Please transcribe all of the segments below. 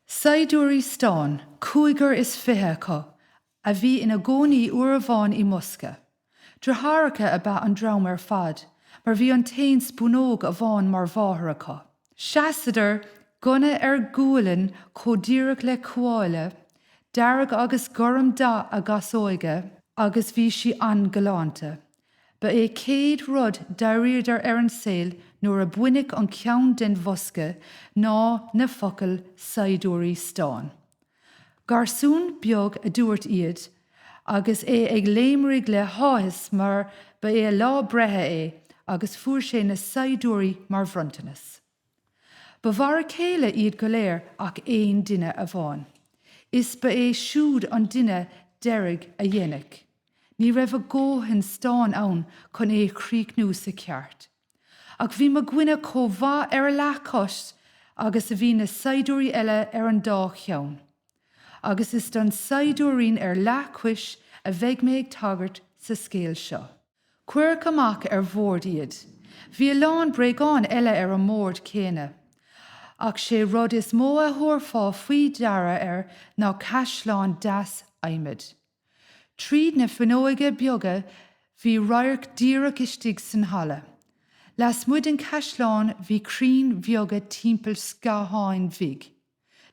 Saighdiúirí stáin, cúigear is fiche acu, a bhí ina gcónaí uair amháin i mbosca. Driotháireacha ab ea an dream ar fad, mar bhí an t-aon spúnóg amháin mar mháthair acu. Seasadar, gunna ar ghualainn chomh díreach le cuáille, dearg agus gorm dath a gcasóige agus bhí sí an-ghalánta. Ba é céad rud d'airíodar ar an saol nuair a baineadh an ceann den bhosca ná na focail 'Saighdiúirí Stáin'. Garsún beag a dúirt iad agus é ag léimrigh le háthas mar ba é lá breithe é agus fuair sé na saighdiúirí mar bhronntanas. Ba mhar a chéile iad go léir ach aon duine amháin, is ba é siúd an duine deiridh a déanadh. Ní raibh a dhóthain stáin ann chun é a chríochnú sa cheart, ach bhí mo dhuine chomh maith ar a leathchois agus a bhí na saighdiúirí eile ar an dá cheann, agus is don saighdiúirín ar leathchois a bheidh mé ag tagairt sa scéal seo. Cuireadh amach ar bhord iad. Bhí a lán bréagán eile ar an mbord céanna. Ach sé rud is mó a thabharfá faoi deara air ná caisleán deas adhmaid. Tríd na fuinneoga beaga bhí radharc díreach istigh san halla. Lasmuigh den chaisleán bhí crainn bheaga timpeall scátháin bhig.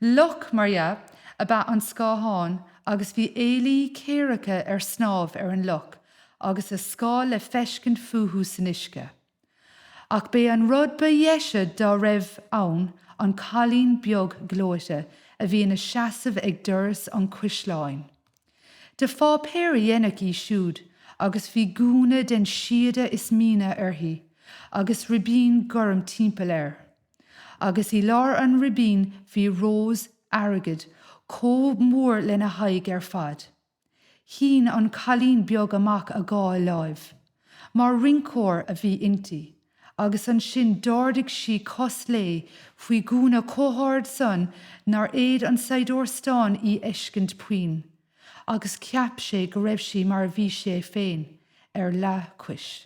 Loch mar dhea ab ea an scáthán agus bhí ealaí céaracha ar snámh ar an loch agus a scáil le feiscint fúthu san uisce. Ach b'é an rud ba dheise dá raibh ann an cailín beag gleoite a bhí ina seasamh ag doras an chaisleáin. De pháipéar a déanadh í siúd agus bhí gúna den síoda is míne uirthi agus ribín gorm timpeall air. agus i lár an ribín bhí rós airgid chomh mór lena haghaidh ar fad. Shín an cailín beag amach a dhá láimh, mar rinceoir a bhí inti, agus ansin d'ardaigh sí cos léi faoin ngúna chomh hard san nár fhéad an saighdiúir stáin í fheiscint puinn, agus cheap sé go raibh sí mar a bhí sé féin, ar leathchois.